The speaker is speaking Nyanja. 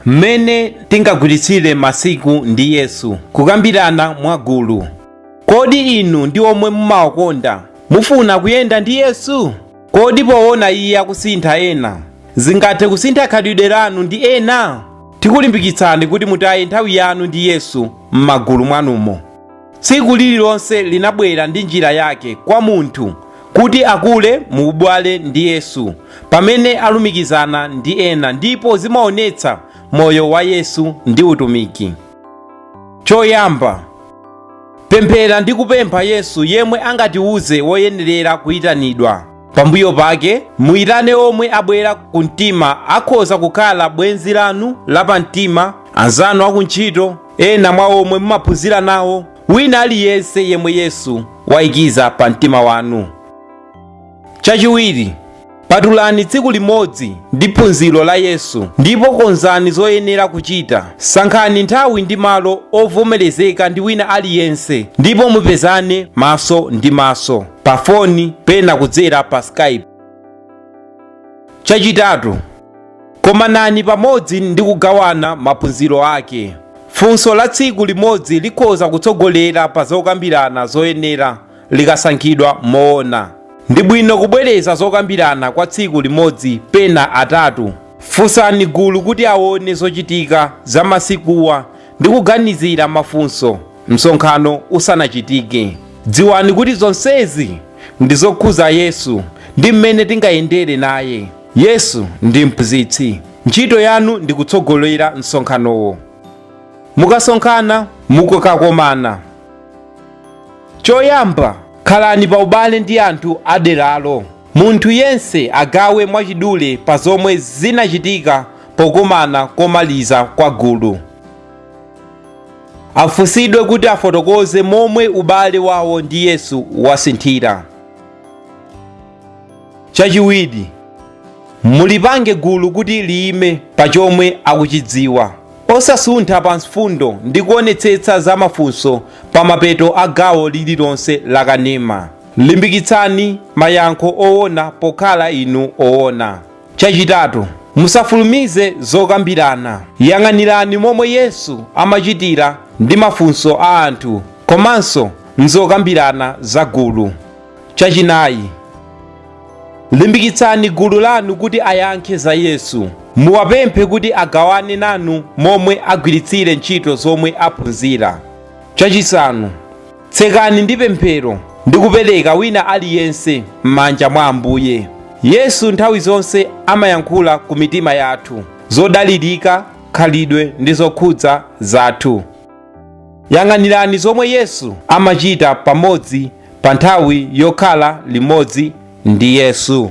mmene tingagwiritsire masiku ndi yesu kukambirana mwagulu kodi inu ndi omwe mumawakonda mufuna kuyenda ndi yesu kodi poona iye akusintha ena zingathe kusintha khalidwe lanu ndi ena tikulimbikitsani kuti mutaye nthawi yanu ndi yesu m'magulu mwanumo Tsiku lililonse limabwera ndi njira yake kwa munthu kuti akule mu ubale ndi Yesu pamene alumikizana ndi ena ndipo zimaonetsa moyo wa Yesu ndi utumiki. Choyamba, pemphera ndi kupempha Yesu yemwe angatiuze woyenerera kuitanidwa. Pambuyo pake, muitane omwe abwera ku mtima akhoza kukhala bwenzi lanu lapamtima, anzanu akuntchito, Ena mwa omwe mumaphunzira nawo. Wina aliyense yemwe Yesu waikiza pa mtima wanu. Chachiwiri, patulani tsiku limodzi ndi phunziro la Yesu ndipo konzani zoyenera kuchita. Sankhani nthawi ndi malo ovomerezeka ndi wina aliyense ndipo mupezane maso ndi maso, pa foni, pena kudzera pa Skype. Chachitatu, Komanani pamodzi ndi kugawana maphunziro ake. Funso la tsiku limodzi likhoza kutsogolera pa zokambirana zoyenera likasankhidwa moona. Ndi bwino kubwereza zokambirana kwa tsiku limodzi pena atatu. Funsani gulu kuti aone zochitika za masikuwa ndi kuganizira mafunso msonkhano usanachitike. Dziwani kuti zonsezi ndi zokhuza Yesu ndi mmene tingayendere naye. Yesu ndi mphunzitsi. Ntchito yanu ndi kutsogolera msonkhanowo. Mukasonkhana, mukakomana. Choyamba, khalani pa ubale ndi anthu a deralo. Munthu yense agawe mwachidule pa zomwe zinachitika pokumana komaliza kwa gulu. Afunsidwe kuti afotokoze momwe ubale wawo ndi Yesu wasinthira. Chachiwiri, mulipange gulu kuti liyime pa chomwe akuchidziwa. Osasuntha pa mfundo ndi kuonetsetsa za mafunso pa mapeto a gawo lililonse la kanema. Limbikitsani mayankho owona pokhala inu owona. Chachitatu, musafulumize zokambirana. Yang'anirani momwe Yesu amachitira ndi mafunso a anthu komanso m'zokambirana za gulu. Chachinayi, limbikitsani gulu lanu kuti ayankhe za Yesu. Muwapemphe kuti agawane nanu momwe agwiritsire ntchito zomwe aphunzira. Chachisanu, tsekani ndi pemphero ndi kupereka wina aliyense m'manja mwa Ambuye. Yesu nthawi zonse amayankhula ku mitima yathu zodalirika, khalidwe ndi zokhudza zathu. Yang'anirani zomwe Yesu amachita pamodzi pa nthawi yokhala limodzi ndi Yesu.